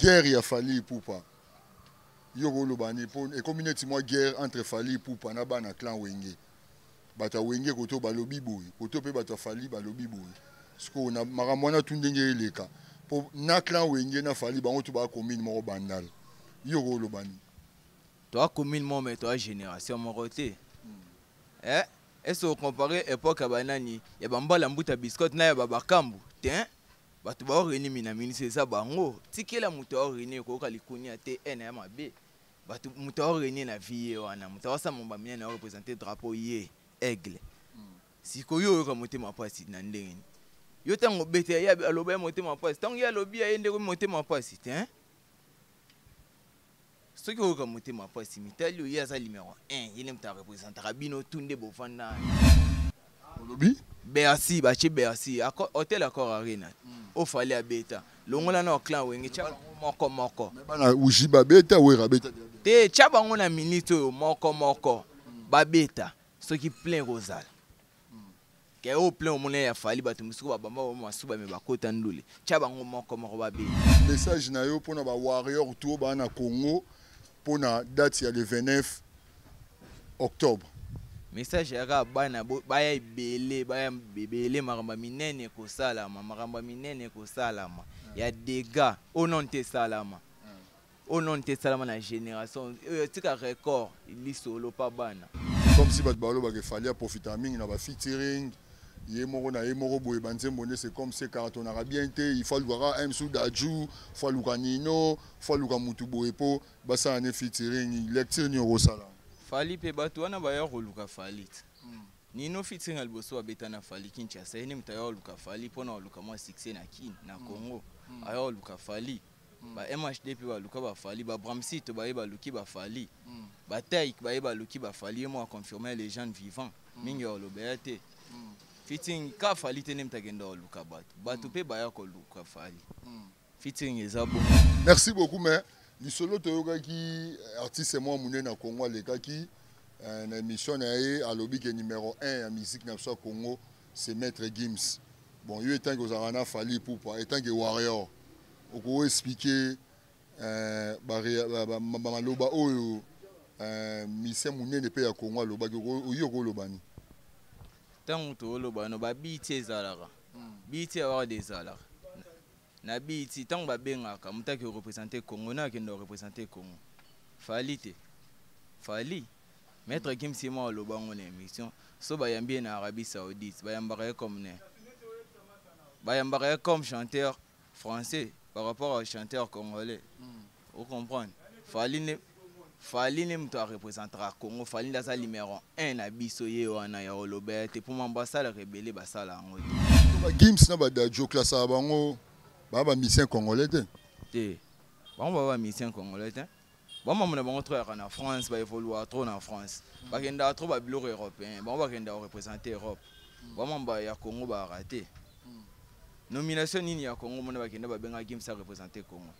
Guerre ya Fally Ipupa. Yo koloba ni po ekomi neti mwa guerre entre Fally Ipupa na bana clan Wenge. Bata Wenge koto balobi boye, koto pe bata Fally balobi boye. Siko na makambo wana tu ndenge eleka. Po na clan Wenge na Fally bango tu ba commune moko bandal. Yo koloba ni. Toi commune moko mais toi génération moko te. Hmm. Eh, est-ce que comparer époque ya banani ya bambala mbuta biscotte na ya babakambu? Te. Bato ba oreni minaminisa eza bango. Tikela moto ya oreni ekoyoka likunia te e na ya mabe. Bato moto ya oreni na vie ye wana moto awasa momba mine na representer drapeau ye aigle. Hmm. Siko yo oyoka motema pasi na ndenge ni. Yo tango obeta ye aloba ye motema pasi. Tango ye alobi ya ye ndeko motema pasi te. Hein? soki oyoka motema mpasi mitali oye aza numero 1 ye nde moto arepresentaka bino tu nde bovanda olobi bercy batie bercy hotel accord arena hmm. ofale abeta longola na oclan wenge tya bango moko moko bana uji babeta wera abeta te tya bango na minute oyo moko moko hmm. babeta soki plein ekozala Ke o plein omona ya Fally bato mosusu ba bamba ba masuba me bakota ndule. Tia bango moko moko ba beta. Message na yo pona ba warrior tout ba na Congo pona date ya le 29 octobre. Message ya kaka bana baya ebele baya ebele makambo ya minene ekosalama makambo ya minene ekosalama ya degat oyo nano te esalama Oh non, te salama na generation. Euh, tika record, lisolo pa bana. Comme si bato baloba ke Fally aprofita mingi na ba featuring ye moko na ye moko boye banzembo nde c'est comme se karatonaka bien te il faut alukaka m sou dajou faut aluka nino faut aluka mutu boye mpo basala ne featuring lecture nini okosala fali mpe bato wana baya koluka fali te hmm. nino featuring ya liboso babeta na fali kinshasa ye nde moto aya koluka fali mpo na koluka mwa succès na kin na hmm. congo hmm. aya koluka fali mm. ba MHD pe baluka ba Fally ba Bramsito baye baluki ba Fally mm. ba Taïk baye baluki ba Fally ye moko confirmer les jeunes vivants mm. mingi olobela te mm. fitting ka Fally te nde mtakenda oluka bato bato mm. pe baya koluka Fally mm. fitting eza bo merci beaucoup mais lisolo toyokaki artiste mwa monene na Congo alekaki euh, na émission na ye alobi ke numéro 1 ya musique na biso ya Congo mm. C'est maître Gims. Bon, yo etanke ozalaka na Fally Ipupa, etanke warrior, oko expliquer euh, ba, ba, ba, ba maloba oyo euh, musicien munene pe ya Congo alobaki, oyi okoloba ni? Tango toloba no ba biti ezalaka. Hmm. Biti ya warrior ezalaka. Na BET tango ba bengaka mutu ake representer Congo nani akenda ko representer Congo? Fally te? Fally? Maitre Gims ye moko aloba yango na emission soki ba yambi ye na Arabie Saoudite ba yambaka ye comme nani? Ba yambaka ye comme chanteur français par rapport au chanteur congolais. o comprendre fali ne fali ne moto arepresentaka congo fali nde aza numero 1 na biso ye wana ya olobela te mpo mambo asalaka ebele basala yango te bagims na badadio klasaka bango baa bamisien congolais te te bango baa bamisien congolais te bamambo na bango trop yaka na france baevoluaka trop na france bakendaka trop babiloko européen bango bakendaka korepresente europe bamamba ya congo baaka te nomination nini ya congo mona bakenda babenga gims arepresente congo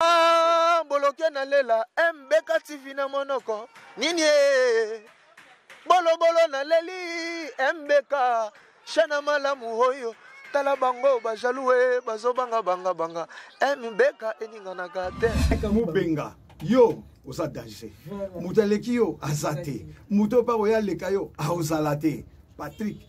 Ah, boloke na lela mbeka tv na monoko nini e bolobolo na leli mbeka shana malamu oyo tala bango bajalue bazobanga banga banga mbeka eninganaka te mubenga yo oza danger moto aleki yo aza te moto oyo mpa oyo aleka yo aozala te patrik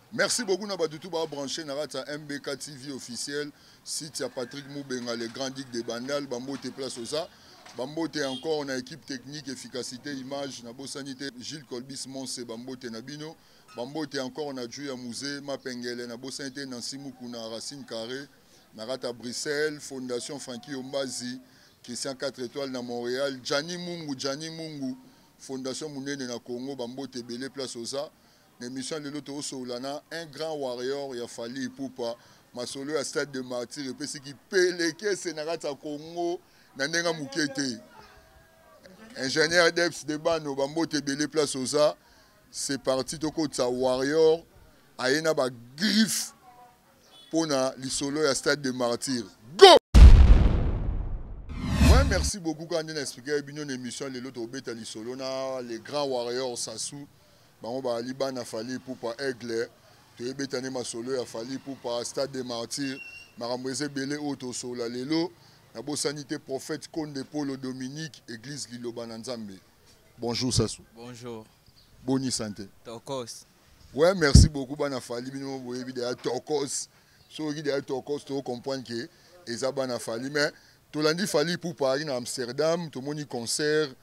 Merci beaucoup na batu tout ba brancher na kati ya MBK TV officiel site ya Patrick Mubenga le grand duc de Bandal bambote place oza bambote encore na équipe technique efficacité image na bosani te Gilles Colbis Monse bambote na bino bambote encore na Juya Muze Mapengele na bosani te Nancy Mukuna Racine Carré na kati ya Bruxelles Fondation Frankie Ombazi Christian 4 étoiles na Montréal Gianni Mungu Gianni Mungu Fondation monene na Congo bambote ebele place oza Na emission ya lelo tokosolola na un grand warrior ya Fally Ipupa. Masolo ya stade de martyr epesi kipelekese na kati ya Congo na ndenge ya moke te. Ingénieur Deps de Bano, bambote ebele place oza. C'est parti tokotisa warrior aye na ba griffe mpo na lisolo ya stade de martyr. Go! Ouais, merci beaucoup kaka nde na explike bino na émission ya lelo tokobeta lisolo na le grand warrior Sassou. Bango baali bana Fally Ipupa Aigle toye beta nde masolo ya Fally Ipupa Stade de Martyrs makambo eza ebele oyo tosolola lelo na bosani te prophète Konde Polo Dominique Eglise Liloba na Nzambe Bonjour Sassou Bonjour Boni santé Tokos Ouais merci beaucoup bana Fally bino boyebi de ya Tokos soki de ya Tokos to comprendre que eza bana Fally mais Tolandi Fally Ipupa ayaki na Amsterdam, tomoni concert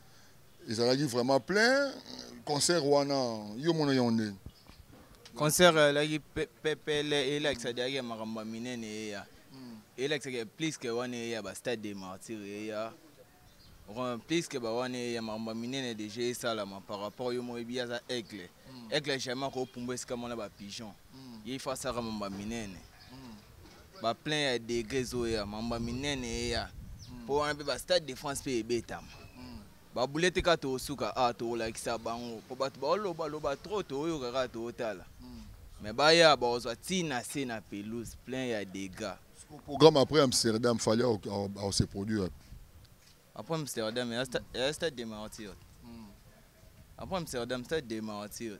ezalaki vraiment plein. Concert wana yo mona yango ndenge? Concert elaki pepele, elakisa diaki makambo ya minene eya. Hmm. Elakisaka plus que wana eya ba stade de martyrs eya. Plus que ba wana eya makambo ya minene déjà esalama par rapport yo moyebi aza aigle. Hmm. Aigle jamais akopumbwa esika mona ba pigeon. Hmm. Ye ifasaka makambo ya minene. ba plein ya degre ezoya mamba minene eya mpo hmm. wana mpe ba stade de france mpe ebetama hmm. babule te kaka tokosuka a ah, tokolakisa bango mpo bato baolobaloba tro toyoka kaka tootala hmm. me baya bakozwa ntina se na pelouse plein ya degat programme après amsterdam fali ase produire après amsterdam eya stade de martyr après amsterdam stade de martyr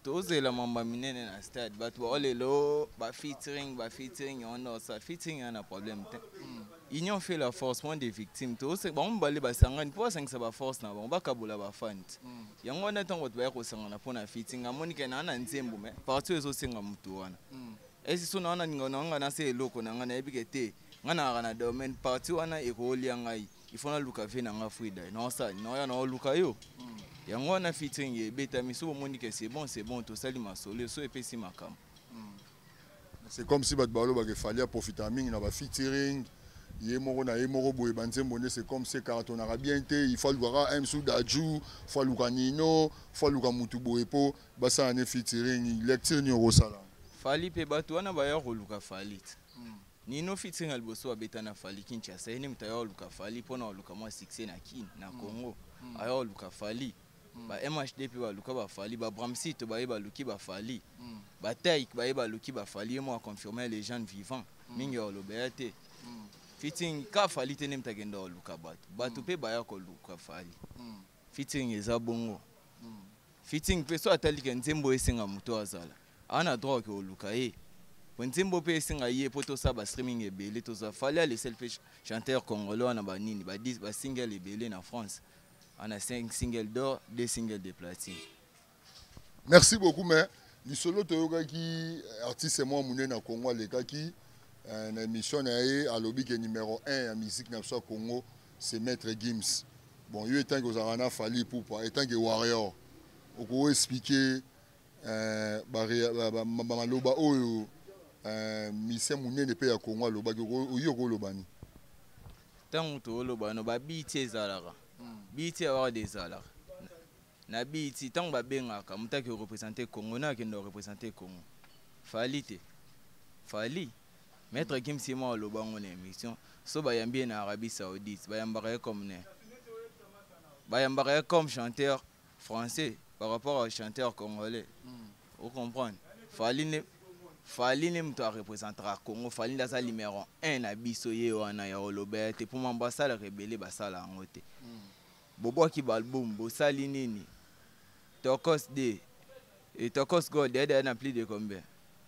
tozela mamba minene na stade bato bao lelo ba featuring ba featuring yango nde osala featuring eza na problème te hmm. union fait la force moins des victimes tose bango mibale basangani mpo basangisa baforce na bango bakabola bafandi hmm. yango wana ntango bato baya kosangana mpo na featuring amoni ke naa na nzembo me parti oyo ezosenga motu wana hmm. esi so naa na ninga na nga nase eloko na nga nayebi ke te nga nayaka na domaine parti wana ekolia ngai il faut naluka vie na nga frida naosala naoya naoluka yo hmm. yango wana fitring ebetami so bomoni ke c'est bon c'est bon tosali masolo so epesi makambo hmm. c'est comme si bato balobaka efali aprofitaka mingi na bafitiring ye moko na ye moko boye banzembo nde c'est comme se karatonaka bien te il faut alukaka m sou dajou faut aluka nino faut aluka motu boye mpo basala ne fitiring lecture nini okosala fali mpe bato wana baya koluka fali hmm. Nino featuring ya liboso abeta na Fally Kinshasa ye nde moto aya oluka Fally mpo na oluka mwa succès na Kin na mm. Congo mm. aya oluka Fally mm. ba MHD mpe baluka ba Fally ba Bramsito baye baluki ba Fally mm. ba Taïk baye baluki ba Fally ye mwa confirmer les jeunes vivants mm. mingi olobela te mm. featuring ka Fally te nde moto akenda oluka bato bato mpe mm. baya koluka Fally mm. Fitting eza bongo. Hmm. Fitting pe so atali ke nzembo esenga moto azala. Ana droit ke oluka ye. Po nzembo pe esenga ye po tosa ba streaming ebele toza fali ale sel pe chanteur congolais wana ba nini ba 10 ba single ebele na France. Ana 5 single d'or, 2 single de platine. Merci beaucoup mais lisolo toyokaki eh, artiste mwa monene na Congo alekaki eh, na émission na ye alobi ke numéro 1 ya musique na biso ya Congo c'est maître Gims. Bon yo etanke ozalaka na Fally Ipupa etanke warrior okoki expliquer eh, ba, ba, ba, ba maloba oyo eh, musicien monene mpe ya Congo alobaki oyo okolobani ntango tolobano babiti ezalaka hmm. biti awaka de ezalaka Na BET tango ba bengaka mutu ake representer Congo nani akenda ko representer Congo? Fally te? Fally? Maitre Gims ye moko aloba yango na emission soki ba yambi ye na Arabie Saoudite ba yambaka ye comme nani? Ba yambaka ye comme chanteur français par rapport au chanteur congolais. O comprendre? Fally nde Fally nde mutu a representaka Congo, Fally nde aza numero un na biso ye wana ya ko loba ye te po ma ba salaka ebele ba sala yango te. Bobwaki ba album bosali nini? Tokos de et Tokos Gold est dans plus de combien?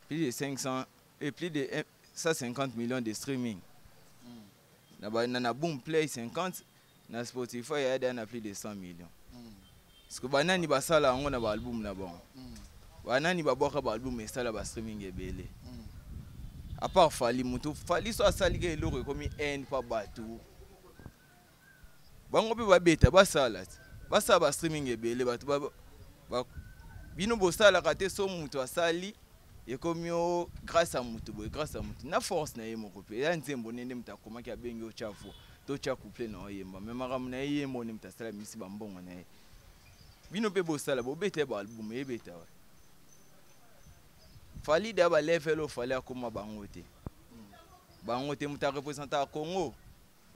Plus de 500 et plus de 150 millions de streaming. Na ba na boom play 50 na Spotify est dans plus de 100 millions. Parce que banani basala yango na ba album na bango. Banani babwaka ba album esala ba streaming ebele. À part Fally mutu Fally so asali ke eloko ekomi haine pa bato. bango mpe babeta basala basala ba streaming ebele bato ba, ba, bino bosalaka te so moto asali ekomi o grâce ya moto boye grâce ya moto na force na ye moko mpe ya nzembo nde nde moto akomaki abengi otya vo to tya couple na oyemba me makambo na ye ye moko nde moto asala misi bambongo na ye bino mpe bosala bobeta ye baalbum ebeta wa falide ya balevel oyo fali akoma bango te bango te moto arepresentaka congo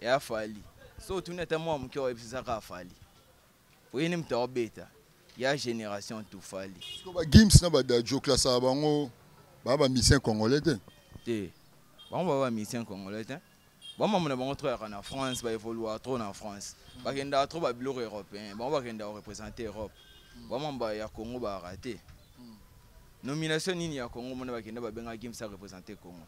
ya fali so otuni ata mwa moke oyebisisa kaka fali oyeni moto aobeta ya génération tout fali bagims na badajo klasaka bango baa bamisien congolais te te bango baa bamisien congolais te bamama na bango trop yaka na france baévoluaka trop na france bakendaka trop babiloko européen bango bakendaka korepresente europe bamama ya congo bayaka te nomination nini ya congo mona bakenda babenga gims arepresente congo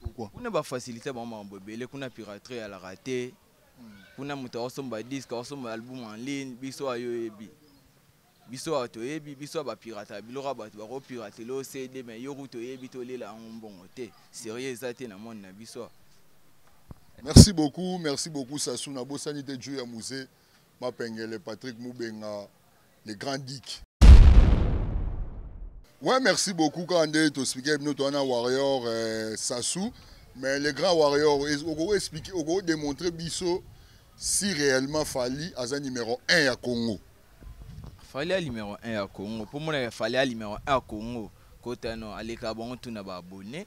Pourquoi? Kuna ba faciliter bango makambo ebele, kuna piraterie ezalaka te. Kuna moto akosomba disque, akosomba album en ligne, biso awa yo oyebi. Biso awa toyebi, biso awa ba pirataka biloko ya bato, bako piratela yo CD mais yo kutu oyebi te olela yango mbongo te. Serieux eza te na monde na biso awa. Merci beaucoup, merci beaucoup Sassou. Nabosani te Dju ya Muze, Mapengele, Patrick Mubenga, le grand dick ouais merci beaucoup kaka nde tospike bino towana warrior euh, sasu mais le grand warrior okoki explique okoki démontrer biso si réellement fali aza numéro 1 ya congo fali ya numéro 1 ya congo mpo monaka fali ya numéro 1 ya congo kotano aleka bango tuna baabonne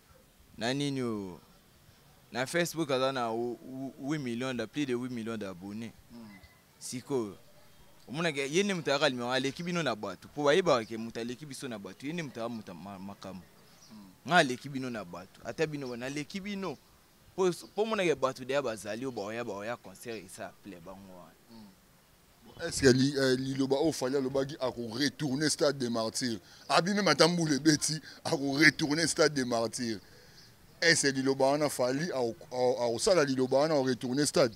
na nini oyo na facebook aza na 8 million da plus de 8 million d'abonné mm. sikoyo omonaka ye nde moto ayaka limero aleki bino na bato mpo bayebaka ke moto aleki biso na bato ye nde moto aya moto makambo mm. nga aleki bino na bato ata bino bana aleki bino mpo omonaka bato deya bazali oyo baoya baoya concert esa ple bango wana mm. eske eh, liloba oyo fali alobaki akoretourne stade de martyr abi meme ata mbula ebeti akoretourne stade de martyr ese liloba wana fali akosala liloba wana akoretourne stade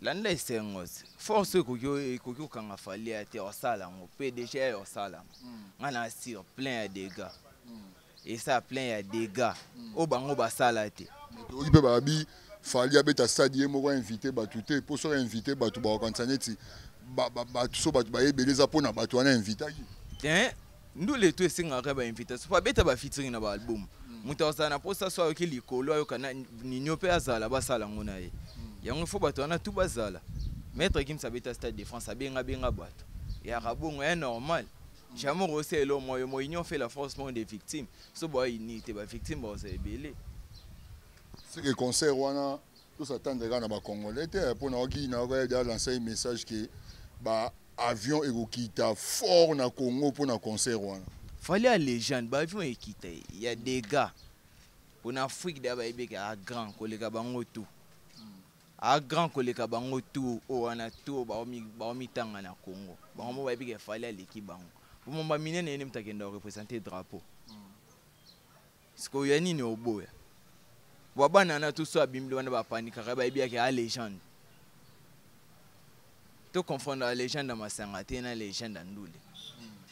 landa esengo force ekoki kokanga fali ya te osala yango mpe deja ya osala yango hmm. ngai na assure plein ya degat esa plein ya dega oyo bango basala te oki mpe babi fali abeta stade ye moko ainvite bato te mpo soki ainvite bato bakokanisa neti bato so bato baye ebele eza mpo na bato wana ainvitaki te ndule to esengaka bainvitation mpo abeta bafitiri na baalbum hmm. moto akozala na mposa so ayoki likolo ayoka ninio mpe azala basala yango na ye hmm. yango ifo bato wana tu bazala maître gims abeta stade de france abengabenga bato yaka bongo ya normal Jamon Rossé elo moyo mo union fait la force non des victimes. So boa uni te ba victimes ba osa ebele. C'est que concert wana tous attendre kana ba congolais te eh, pona oki na ko ya lancer message que ba avion ekokita fort na Congo pona concert wana. Fallait à légende ba avion ekita il y a des gars. Pona Afrique da ba ebeka grand koleka bango tout. a grand koleka bango tout oyo wana tout baomitanga na congo bango mo bayebi ke fali aleki bango bomomba minene yene moto akenda orepresente drapeau sikoyo ya nini oboya bwa bana wana tout so abimbi wana bapanikaka bayebi yake a legende to confondre la legende ya masanga te na legende ya ndule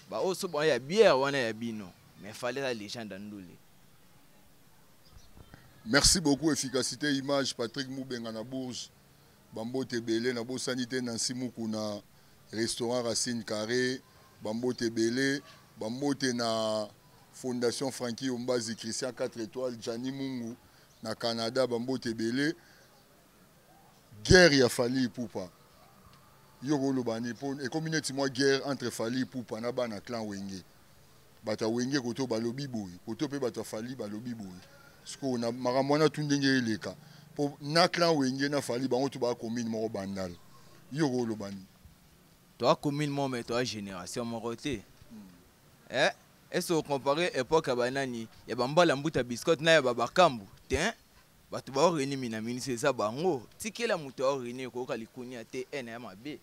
baoyo so baya biere wana ya bino mais fali eza legende ya ndule Merci beaucoup efficacité image Patrick Mubenga na Bourges bambote ebele na bosani te Nancy Mukuna restaurant Racine Carré bambote ebele bambote na fondation Frankie Ombazi Christian 4 étoiles Gianni Mungu na Canada bambote ebele Guerre ya Fally Ipupa. Yo okoloba nini po ekomi neti mwa guerre entre Fally Ipupa na bana clan Wenge. Bato ya Wenge koto balobi boye, koto pe bato ya Fally balobi boye. Sikoyo na makambo wana tout ndenge eleka po na clan Wenge na Fally bango tout ba commune moko Bandal. Yo okoloba nini? Toa commune moko mais toa generation moko te. Eh, est-ce que comparer epoque ya banani ya bambala mbuta biscotte na ya babakambu? Tein. Bato ba oreni minaminisa eza bango. Tikela moto ya oreni koyoka likunia te ena ya mabe.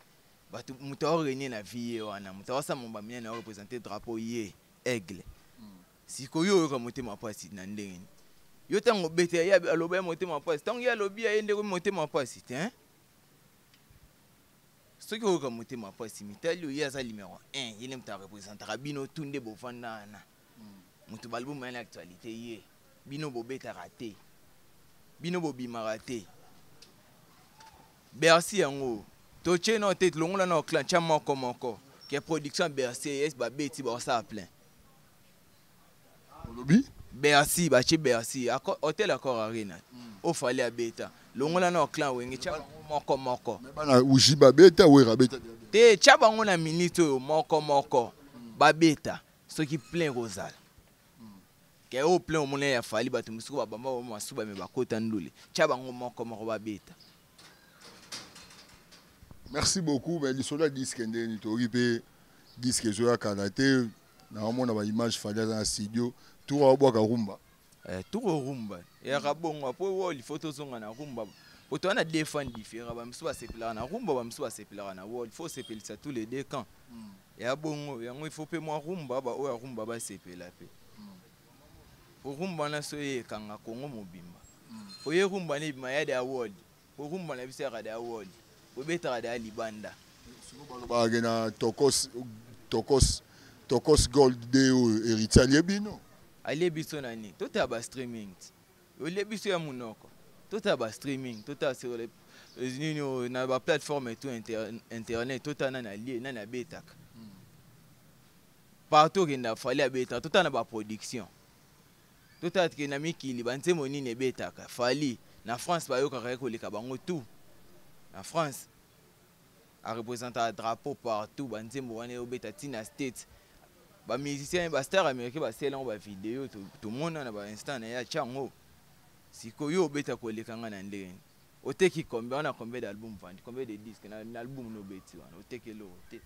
Bato moto ya oreni na vie ye wana moto awasa momba minene ya representer drapeau ye aigle. Hmm. Siko yo oyoka motema pasi na ndenge ni? Yo tango obeta ya ye aloba ya motema pasi. Tango ye alobi ya ye ndeko motema pasi te hein? Soki oyoka motema pasi mitali yo ye aza numero 1 ye ne moto a representaka bino tout nde bovanda wana. moto balbum ya na actualité ye bino bobetaka te bino bobimaka te bercy yango totye nao te longola nao clan tya moko moko ke production ya bercy es babeti baosala plein olobi bercy batye bercy hotel accord arena hmm. ofali abeta longola nao clan wenge tya bango moko moko bana uji babeta wera abeta te tya bango na minute oyo moko moko hmm. babeta soki plein ekozala ke oyo plein omona ya fali bato mosuku babamba ba masuba me bakota ndule tya bango moko moko babeta merci beaucoup me lisolo ya diske ndenge nini toyoki mpe diske ezoya kala te naomona baimage fali aza na studio tour aobwaka rumba eh, tour rumba eyaka bongo apo oyo lifo tozonga na rumba po toza na deux fan différent bamosusu basepelaka na rumba bamosusu basepelaka na wol fo osepelisa tous les deux camps mm. ya bongo yango il faut pe mwa rumba ba oyo rumba ba sepela pe po rumba na so ye kanga kongo mobimba po ye rumba ne bima ya da world po rumba na biso ya da world po betaka da libanda ba ke na tokos tokos tokos gold de oyo heritier alie bino alie biso na ni to ta ba streaming olie biso ya munoko totala ba streaming totala sur les euh, nini oh, na ba plateforme et tout internet totala nani alie nani abetaka partout okenda fali abetaka totala na ba production totala tike na mikili banzembo nini ebetaka fali na france bayokaka ye koleka bango tout na france a representa drapeau partout ba nzembo wana yo beta tina state ba musiciens ba star américain ba sela ba vidéo to to mona na ba instant na ya chango siko yo beta ko leka nga na ndenge ni oteki combien wana combien d'album vandi combien de disques na, na album no beti wana oteki lo te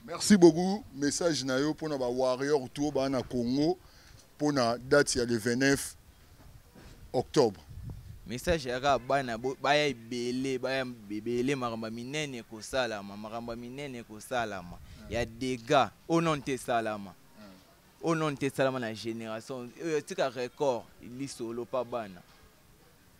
Merci beaucoup message na yo pona ba warrior tout ba na Congo pona date ya le 29 octobre. Message ya ka bana baya ebele baya ebele makambo minene kosalama makambo minene kosalama ya dégâts au nom te salama au nom te salama na génération oyo tika record lisolo pa bana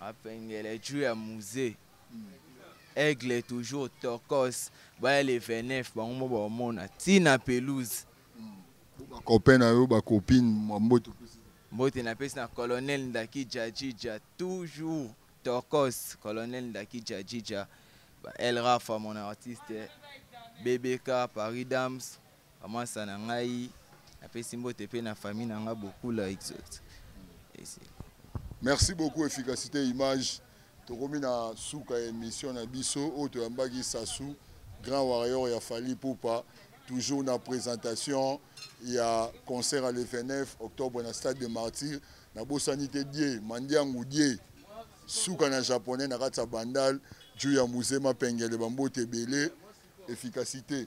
Apengele jus ya musee. Aigle toujours tokos baya le 29 bango mo baomona tina pelouse. Ba copain na yo ba copine mbote. Mbote na pesi na colonel ndaki jajija toujours tokos colonel ndaki jajija ba El Rafa mon artiste BBK Paris Dams. Amasa na ngai napesi mbote mpe na famille na ngai bokula exote merci beaucoup efficacité image tokomi na suka ya émission na biso oyo toyambaki sasu grand warrior ya fali pupa toujours na présentation ya concert ya le 29 octobre na stade de martyr nabosani te die mandiangu die suka na japonais na kati ya bandal juu ya muzema pengele bambote ebele efficacité